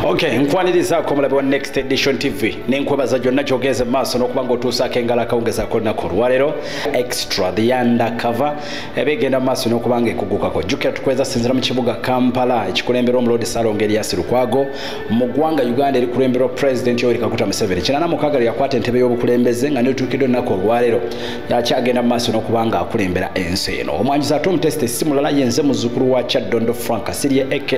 okay nkwanirizaako omulabi wa next edition tv nenkwebaza gyonna kyogeeza mu maaso n'okuba ngaotuusaako engalo akawungezaako olunaku olwaleero extra the yanda cover ebigenda mu maaso n'okuba nga ekugukako jjukira tukweza sinzira mu kibuga kampala ekikulemberwa omuloodi salonga eriasi lukwago mu ggwanga uganda erikulemberwa president yoweri kaguta museveni kinana mukaaga lyakwata entebe y'obukulembeze nga netuukidde olunaku olwaleero yakyagenda mu maaso n'okuba nga akulembera ensi eno omwanjuzi ate omutesite simulala yenze muzzukulu wa kyaddondo frank sirye aka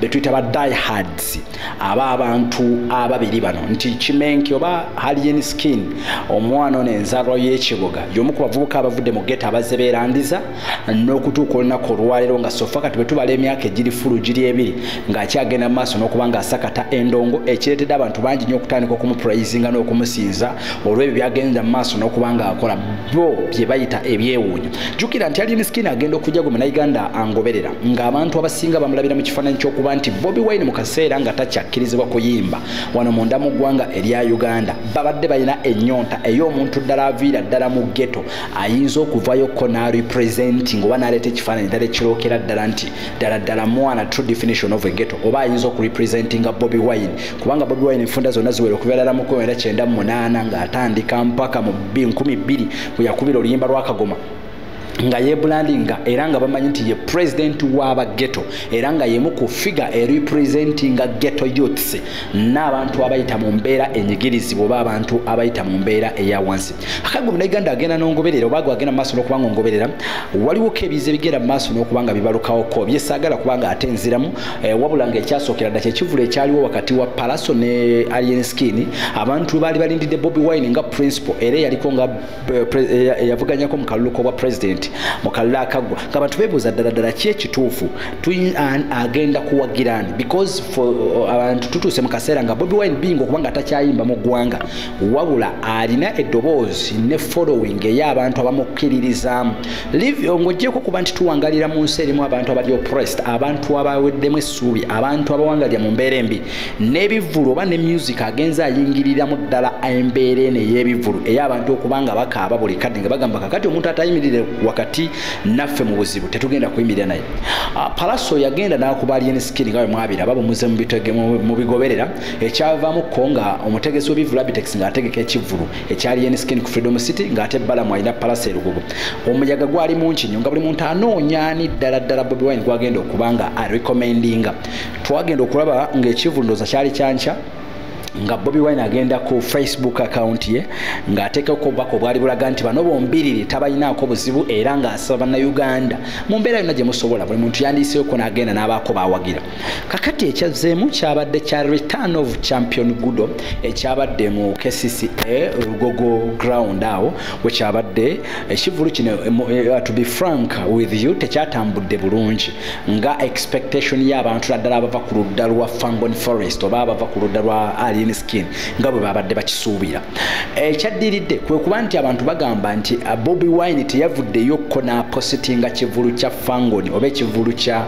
betuyita ba diehards aba abantu ababiri bano nti kimenki oba halien skin omwana ono enzalwa y'ekibuga yomu ku bavubuka abavudde mu geta abazze beerandiza n'okutuuka olunaku olwaleero nga sofa kati bwe tubala emyaka egiri fulu giri ebiri ng'akyagenda mu maaso n'okuba ng'asakata endongo ekireetedde abantu bangi nnyo okutandika okumupurayizinga n'okumusinza olw'ebyo byagenda mu maaso n'okuba ng'akola bo bye bayita ebyewuunyo jjukira nti ali misikini agenda okujja gwe munauganda angoberera ng'abantu abasinga bamulabira mu kifaananyi ky'okuba nti bobi wine mu kaseera nga takyakkirizibwa kuyimba wano munda mu ggwanga erya uganda babadde balina ennyonta ey'omuntu ddala aviira ddala mu geto ayinza okuvayo ko narepresenti ngaoba naleeta ekifaananyi ddala ekirookera ddala nti ddala ddala mwana true definition of a geto oba ayinza okurepresentinga bobi wine kubanga bobi wine enfunda zonna ziwera okubeera la mukumi era kyenda mu munaana ng'atandika mpaka mu nkumi bbiri bwe yakubira oluyimba lwakagoma nga yebulandinga era nga bamanyi nti ye pulezidenti w'aba geto era nga yemu ku figa erepresentinga geto youths n'abantu abayita mu mbeera enyigirizibwa oba abantu abayita mu mbeera eya wansi akagwe munauganda agenda nongoberera oba agenda mu maaso nokuba nga ongoberera waliwoko ebiza ebigenda mu maaso nokuba nga bibalukawoko byesaagala kuba nga ate nziramu eh, wabula nga ekyasookera dda kyekivula ekyaliwo wakati wa palaso ne alien skin abantu baali balindidde bobi wine nga principal era eyaliko nga eh, eh, eyavuganyako mu kalulu kobwa president mu kalulu akaggwa nga bantu bebuuza ddala ddala ki ekituufu an agenda kuwagirani because abantu tutuuse mu kaseera nga bobi wine binga okuba nga atakyayimba mu ggwanga wabula alina eddoboozi ne following eyo abantu abamukkiririzaamu ng'ogyeko okuba nti tuwangalira mu nsi erimu abantu abali oppressed abantu abaweddemu essuubi abantu abawangalira mu mbeera embi n'ebivvulu oba ne music agenza ayingiriramu ddala embeera eno ey'ebivvulu eyo abantu okuba nga bakaaba buli kadde nga bagamba kakati omuntu atayimirire wakati naffe mu buzibu tetugenda kuyimirira naye ah, palaso yagenda n'akuba alien skin nga bwe mwabira aba bumuze mu bigoberera ekyavaamu ko nga omutegesi w'ebivulu abitex ng'ategeka ekivvulu ekya lien skin ku freedom city ng'ate balamu alina palasa erugubu omuyaga gwali mungi nnyo nga buli muntu anoonya ani ddala ddala bobi wine gwagenda okuba nga arecommendinga twagenda okulaba ng'ekivvulu ndooza kyali kyankya nga bobi wine agenda ku facebook account ye ng'ateekeko obubaka obwali bulaga nti bano bombiriri tabalinaako buzibu era ng'asaba bannauganda mu mbeera yonna gye musobola buli muntu yandiyiseeko n'agenda n'abaako baawagira kakati ekyazzeemu kyabadde kya return of champion gudo ekyabadde mu kcca lugogo ground awo wekyabadde ekivulu kino eh, eh, to be frank with you tekyatambudde bulungi nga expectation y'abantu naddala abava ku ludda lwa fangon forest oba abava ku ludda lwa alien skin nga bwe babadde bakisuubira ekyaddiridde kwe kuba nti abantu bagamba nti ah, bobi wine teyavuddeyo ko n'apositinga kivulu kya fangon oba ekivulu kya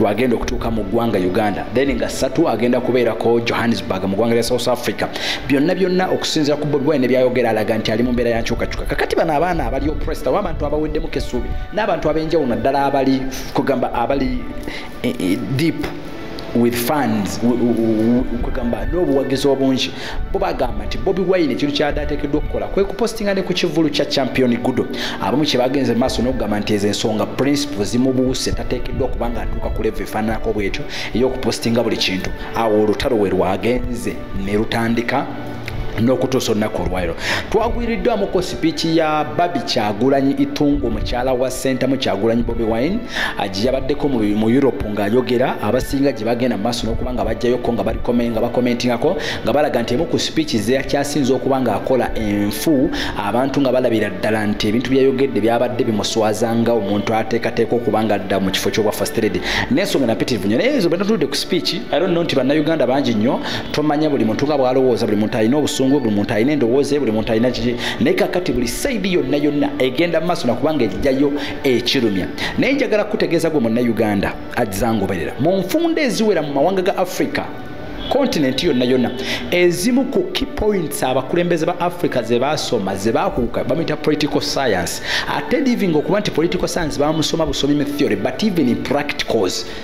lwagenda okutuuka mu ggwanga uganda then nga satu agenda kubeerako johannesburg mu ggwanga lya south africa byonna byonna okusinzira ku bobi wine byayogera alaga nti ali mu mbeera yankyukakyuka kakati bano abaana abali opresta oba abantu abaweddemuko essuubi n'abantu ab'enjawulo naddala abali kugamba abali eh, eh, deep with funds kugamba n'obuwagizi obungi bo bagamba nti bobi wine ekintu kyabadde ateekeddwa okukola kwe kupostinga ne ku kivulu kya champion gudo abamu kye bagenze maaso n'okugamba nti ezo ensonga principle zimubuuse tateekeddwa okuba nga atuuka ku levu efaananako bwetyo ey'okupostinga buli kintu awo olutalo we lwagenze ne lutandika n'okutuusa olunaku olwaliro twagwiriddwamu Spiiki ya Babi Kyagulanyi Itungo mukyala wa Ssentamu Kyagulanyi Bobi Wine aji yabaddeko mu mu Europe ng'ayogera abasinga gye bagenda mu maaso n'okuba nga bajjayoko nga bali kome nga bakomentingako nga balaga nti emu ku spiiki ze yakyasinze okuba ng'akola enfu abantu nga balabira ddala nti ebintu byeyayogedde byabadde bimuswaza nga omuntu ateekateeka okuba nga adda mu kifo ky'obwa first lady n'ensonga napitirivu nnyo naye ezo bwe natudde ku spiiki i don't know nti bannayuganda bangi nnyo tomanya buli muntu nga bwalowooza buli muntu alina obusungu buli muntu alina endowooza buli muntu alina kiki naye kakati buli saidi yonna yonna egenda mu maaso nakubanga ejjayo ekirumya naye njagala kukutegeeza gwe munnauganda azangoberera mu nfunda eziwera mu mawanga ga africa kontinenti yonna yonna ezimu ku key points abakulembeze ba africa ze baasoma ze baakuuka bamuyita political science ate living okuba nti political science bamusoma busomi mu theory but even in practicals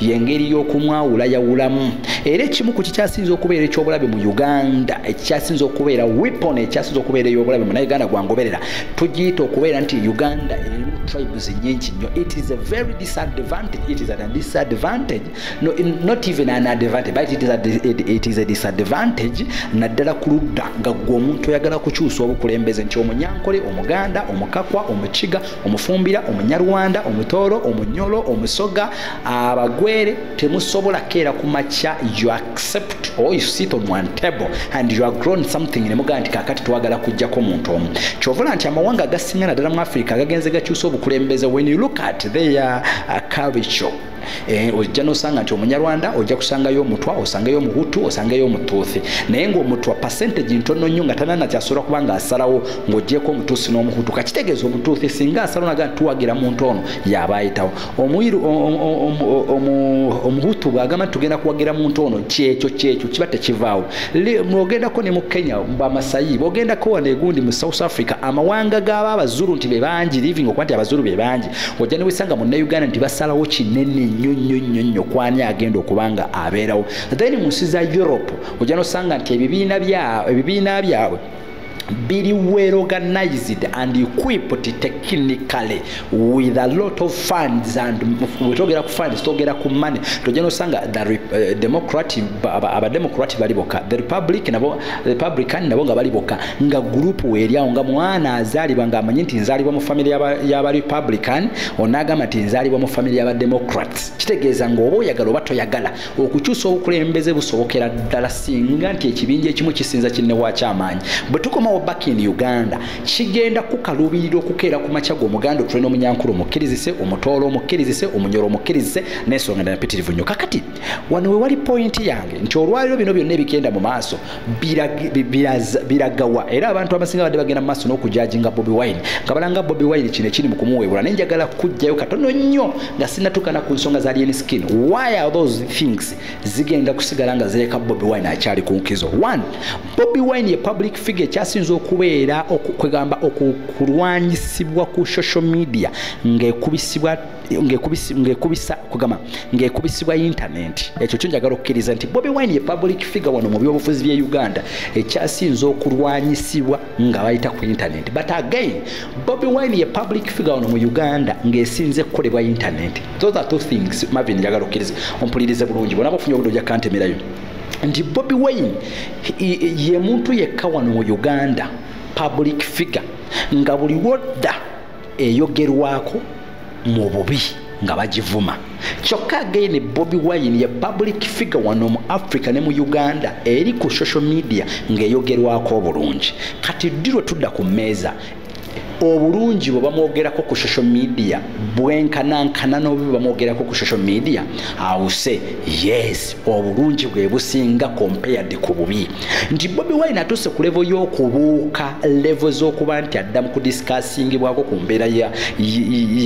yengeri y'okumwawula yawulamu era ekimu ku kikyasinza okubeera ekyobulabe mu uganda ekikyasinza okubeera wepon ekyasinza okubeera eyobulabe mu nauganda gwangoberera tugiyita okubeera nti uganda erimu tribes nyingi nnyo it is a very disadvantage it is a disadvantage no, not even an advantage but it is a, it, it is a disadvantage naddala ku ludda nga gwe omuntu oyagala kukyusa obukulembeze nti omunyankole omuganda omukakwa omukiga omufumbira omunyarwanda omutooro omunyolo omusoga abagwere temusobola keera ku makya you accept or you sit on one table and you are grown something nemugaa nti kakati twagala kujjako omuntu omu kyovola nti amawanga agasinga naddala mu africa agagenze gakyusa obukulembeze when you look at their uh, culture Eh, ojja nosanga nti omunyarwanda ojja kusangayo omutwa osangeyo omuhutu osangeyo omutuuthi naye ngaomutwa percentage ntono nnyo nga tanana kyasobola kuba nga asalawo ngaogyeko omutuusi n'omuhutu kakitegeeza omutuuthi singa asalawo naga tuwagira muntu ono yaba ayitawo omuiru omuhutu bwagamba nti tugenda kuwagira muntu ono kyekyo kyekyo kiba tekivaawo ogendako ne mu kenya bamasayi bogendako wano egundi mu south africa amawanga gaba abazuru nti bebangi living okuba nti abazuru bebangi ojja newesanga munnauganda nti basalawo kinene nnyo nnyo nnyo nnyo kwani agenda okuba nga abeerawo then mu nsi za europe ojja nosanga nti ebibiina byabwe biri well organized and equipped technically with a lot of funds and wetogera ku funds togera ku money tojja nosanga the uh, democratic abademocratic bali boka the republic nabo republican nabo nga bali bokka nga gurupu weeryawo nga mwana azaalibwa ng'amanyi nti nzaalibwa mu famire y'aba republican onaagamba nti nzaalibwa mu famire y'aba democrats kitegeeza ng'oba oyagala oba toyagala okukyusa obukulembeze busobokera ddala singa nti ekibinja ekimu kisinza kinnewakyamaanyi bwe tukomawo back in uganda kigenda kukaluubirira okukeera ku makya g'omuganda otule n'omunyankulu omukkirizise omutoolo omukkirizise omunyoro omukkirizise n'ensonga ndala mpitirivu nnyo kakati wano wewali pointi yange nti olwaliro bino byonna ebigenda mu maaso biragawa era abantu abasinga badde bagenda mu maaso n'okujajinga bobi wine nga balanga bobi wine kino ekiri mu kumuweebula naye njagala kujjayo katono nnyo nga sinatukana ku nsonga za lien skin why are those things zigenda kusigala nga zireka bobi wine akyali ku nkizo one bobi wine ye public figure ekyasinza okubeera kwegamba okulwanyisibwa ku social media ng'ekubisibwa ngekubisa kugamba ngekubisibwa yintanenti ekyo kyo njagala okukkiriza nti bobi wine ye public figure wano mu byobufuzi bye uganda ekyasinza okulwanyisibwa nga bayita ku yintanenti but again bobi wine ye public figure wano mu uganda ngaesinze kukolebwa yintanenti those are two things mavin njagala okukkiriza ompulirize bulungi bona bafunye obudde oja kantemerayo nti bobi wine ye muntu yekka wano mu uganda public figure nga buli wodda eyogerwako mu bubi nga bagivuma kyokka againe bobi wine ye public figure wano mu africa ne mu uganda eri ku social media ng'eyogerwako obulungi kati ddi lwe tudda ku mmeeza obulungi bwe bamwogerako ku social media bwenkanankana n'obubi bamwogerako ku social media awuse yes obulungi bwe businga compared ku bubi nti bobi wine atuuse ku levo y'okubuuka levo z'okuba nti adda mu kudisikaasingibwako ku mbeera ya,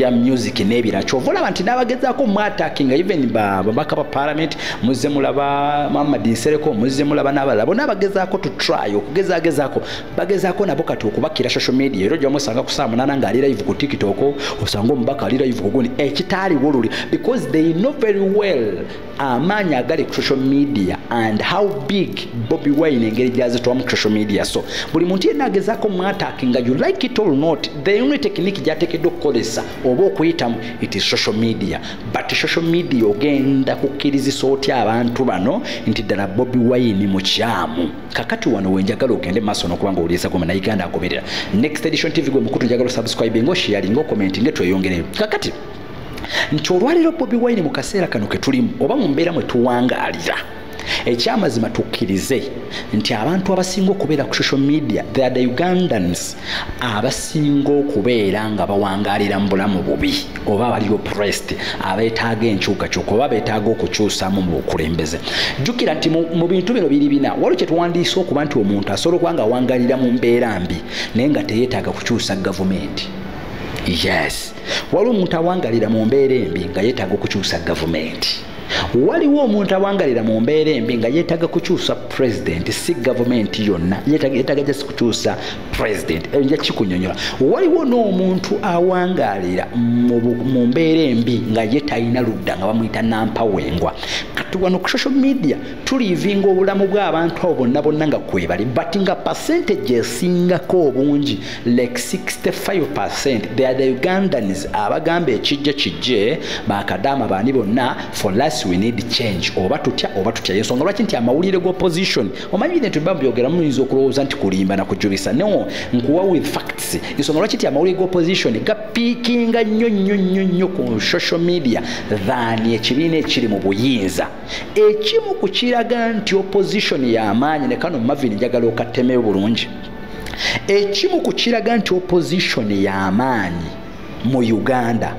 ya music n'ebira kyova olaba nti n'abagezaako mwatakinga even babaka ba parliament muzze mulaba muhammad nsereko muzze mulaba n'abalala bona abagezaako to try okugezagezaako bagezaako nabo kati okubakira social media era ojamu osanga kusaamunana ng'ali live ku tiktok osanga omubaka ali live kugundi ekitaaliwo luli because they know very well amaanyi agali ku social media and how big bobi wine engeri gyazitwamu ku social media so buli muntu yenna agezaako mwataaki nga you like it or not the only technique gyateekeddwa okukozesa oba okuyitamu it is social media but social media ogenda kukkirizisa otya abantu bano nti ddala bobi wine mukyamu kakati wano wenjagala ogende maaso nokubanga owuliriza goma naye ganda agoberera next edition tv gwe mukutu njagala osubscribe nga oshiyalinga okomenti nge tweyongereyo kakati nti olwaleero bobi wine mu kaseera kano ke tulimu oba mu mbeera mwe tuwangaalira ekyamazima tukkirize nti abantu abasinga okubeera ku social media the the ugandans abasinga okubeera nga bawangalira mu bulamu bubi oba abali oprest abeetaaga enkyukakyuka oba beetaaga okukyusamu mu bukulembeze jjukira nti mu bintu bino biri bina waliwo kye tuwandiisa okuba nti omuntu asobola okuba nga awangalira mu mbeera mbi naye nga teyeetaaga kukyusa gavumenti yes waliwo omuntu awangalira mu mbeera embi nga yeetaaga okukyusa gavumenti waliwo omuntu awangalira mu mbeera embi nga yeetaaga kukyusa pulezidenti si gavumenti yonna yeetaaga jasi kukyusa pulezidenti eyo nja kikunyonyola waliwo n'omuntu awangaalira mu mbeera embi nga ye talina ludda nga bamuyita nampawengwa kati wano ku social media tuliivinga obulamu bw'abantu abo bonna bonna nga kwebali but nga pasentage esingako obungi like 65% they are the ugandans abagamba ekijje kijje bakadaama baani bonna for last we need change oba tutya oba tutya yensonga lwaki nti amawulire ga opposition omanyi bine tuba byogera muyinza okulowooza nti kulimba nakujubisa no nkuwa with facts ensonga lwaki nti amawulire ga opposition gapiikinga nnyo nnyo nnyo nnyo ku social media than ekibiina ekiri mu buyinza ekimu ku kiraga nti opposition yamaanyi ne kano mavin njagala okatemeyo bulungi ekimu ku kiraga nti opposition y'amaanyi mu uganda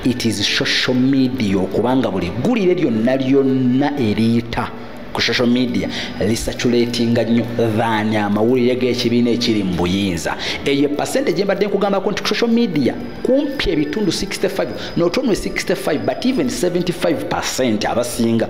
it is social media okubanga buli ggulire lyonna lyonna eriyita ku social media lisaculatinga nnyo than amawulire g'ekibiina ekiri mu buyinza eyo pasente gye mbadde nkugambako nti ku social media kumpi ebitundu 65 not only 65 but even 75 percent abasinga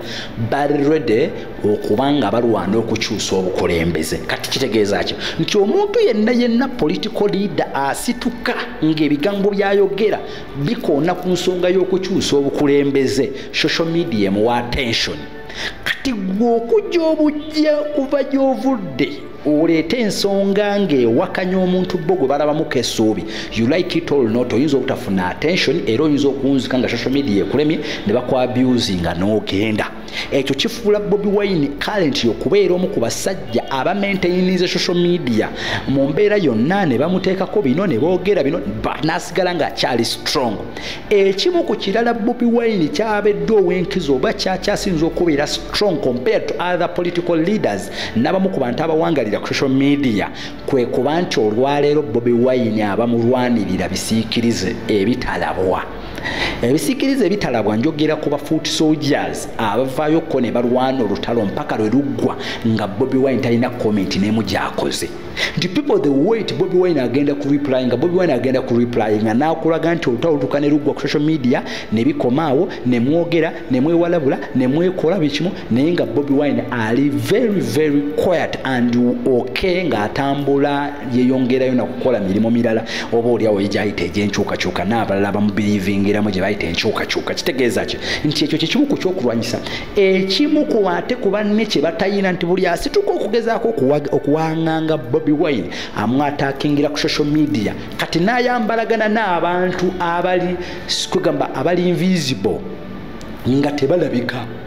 bali ready okuba nga balwana okukyusa obukulembeze kati kitegeeza ki nti omuntu yenna yenna political leader asituka ng'ebigambo byayogera bikoona ku nsonga y'okukyusa obukulembeze social media emuwa attention kati gwe okujja obujja kuva gy'ovudde oleete ensonga ng'ewakanya omuntu bo gwe balabamuko essuubi you like it all not oyinza obutafuna attention era oyinza okunzika nga social media ekulemye ne bakwabusinga n'ogenda ekyo kifuula bobi wine kalenti okubeera omu ku basajja abamaintaininze social media mu mbeera yonna ne bamuteekako bino ne boogera bino n'asigala ng'akyali strong ekimu ku kirala bobi wine kyabedde ow'enkizo oba kyakyasinza okubeera strong compared to other political leaders n'abamu ku bantu abawangalira ku social media kwe kuba nti olwaleero bobi wine abamulwanirira bisiikirize ebitalabwa ebisikiriza ebitalabwa njogera ku ba foot soldiers abavaayo ko ne balwana olutalo mpaka lwe luggwa nga bobi wine talina comment nemu gyakoze nti people the wait bobi wine agenda ku reply nga bobi wine agenda ku reply nga nakulaga nti olutalo lutuka ne luggwa ku social media ne bikomaawo ne mwogera ne mwewalabula ne mwekola bikimu naye nga bobi wine ali very very quiet and ok ngaatambula yeyongerayo nakukola mirimu mirala oba oliawo yegyayita egyenkyukakyuka naabalala abamubirivingiramu gyebayita enkyukakyuka kitegeeza ki nti ekyo kyekimu ku kyokulwanyisa ekimu ku ate ku banne kyebatayina nti buli asituka okugezaako okuwanganga bobi wine amwatakingira ku social media kati nayambalagana n'abantu abali kwegamba abali invisible nga tebalabika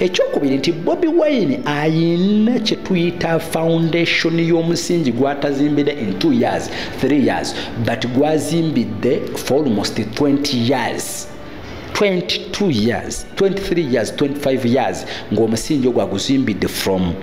ekyokubiri nti bobi wine ayina kyetuyita foundation y'omusingi gwatazimbidde in two years three years but gwazimbidde for almost 20 years 22 years 23 years 25 years ng'omusingi ogwaguzimbidde from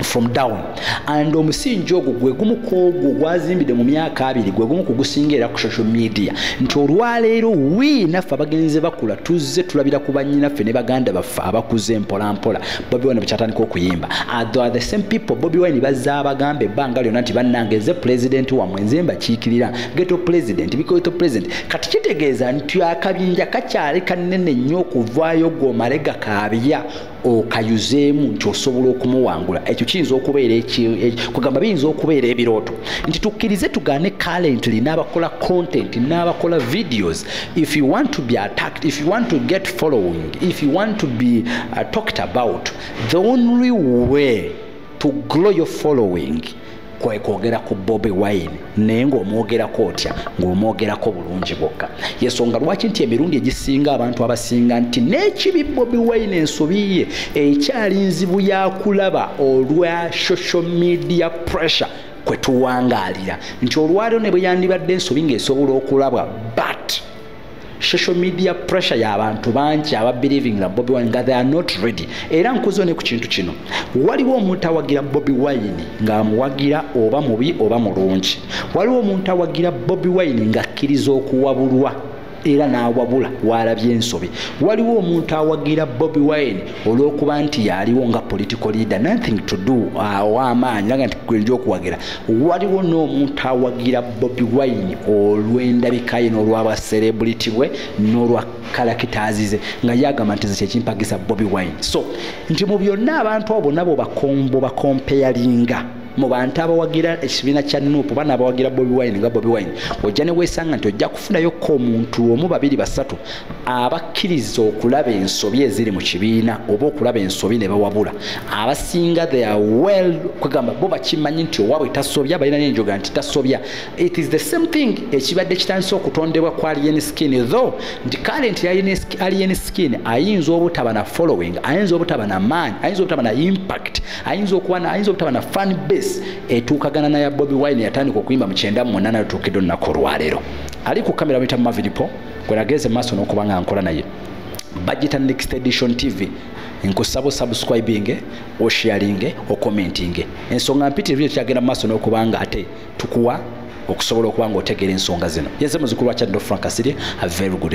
from down and omusingi ogwo gwe gumu kwogwo gwazimbidde mu myaka abiri gwe gumu kugusinga era ku social media nti olwaleero wi naffe abagenzi bakula tuzze tulabira ku banyinaffe ne baganda baffe abakuze mpolampola bobi wine bekyatandika okuyimba atho are the same people bobi wine bazza abagamba ebbanga lyonna nti bannange eze pulezidenti wamwe nze mbakiikirira geto pulezidenti bikoto pulezidenti kati kitegeeza nti akabinja kakyali kanene nnyo okuvaayo gomale gakaabya okayuzeemu nti osobola okumuwangula ekyo kiyinza okubeera kugamba biyinza okubeera ebirooto nti tukkirize tugaane calently n'abakola content n'abakola videos if you want to be attacked if you want to get following if you want to be uh, talked about the only way to grow your following kwekwogera ku bobi wine naye ngaomwogerako otya ngaomwogerako bulungi bwokka yesonga lwaki nti emirundi egisinga abantu abasinga nti n'ekibi bobi wine ensobi ye ekyali nzibu yakulaba olwa social media pressure kwetuwangalira nti olwaliro ne bwe yandibadde ensobi ngaesobola okulabwa but social media pressure ya abantu bangi aba believing nga bobi wine nga they are not ready era nkuzo ne ku kintu kino waliwo omuntu awagira bobi wine nga amuwagira oba mubi oba mulungi waliwo omuntu awagira bobi wine nga akkiriza okuwabulwa era n'awabula waalabye ensobi waliwo omuntu awagira bobi wine olwokuba nti yaliwo nga political leader nothing to do ah, owamaanyi aga nti gwenja okuwagira waliwo n'omuntu awagira bobi wine olw'endabikaye n'olwabaserebuliti bwe n'olwa kalakitaazize nga yagamba nti zekyekimpagisa bobi wine so nti mu byonna abantu abo nabo bakombo bakompeyalinga mu bantu abawagira ekibiina kya nup bana abawagira bobi wine nga bobi wine ojja ne weesanga nti ojja kufunayo ko omuntu omu babiri basatu abakkiriza okulaba ensobi eziri mu kibiina oba okulaba ensobi ne bawabula abasinga they are well kwegamba bo bakimanyi nti owaabwe tasobya balina nenjoga nti tasobya it is the same thing ekibadde kitandise okutondebwa ku alien skin though nti kale nti alien skin ayinza obutaba na following ayinza obutaba na maanyi ayinza obutaba na impact ayinza okuba ayinza obutaba na fan base etuukagana naya bobi wine yatandika okuyimba mu kyenda mu munaana lutuukidde olunaku olwaleero ali ku kamera buyita mumaviripo gwenageze maaso n'okuba nga nkola naye bajita next edition tv nkusaba osubscribinge osharinge okomentinge ensonga mpitirivu yo kyagenda mu maaso n'okuba nga ate tukuwa okusobola okuba nga otegeera ensonga zino yenze muzukulu wa kyaddo frank kasirye a very good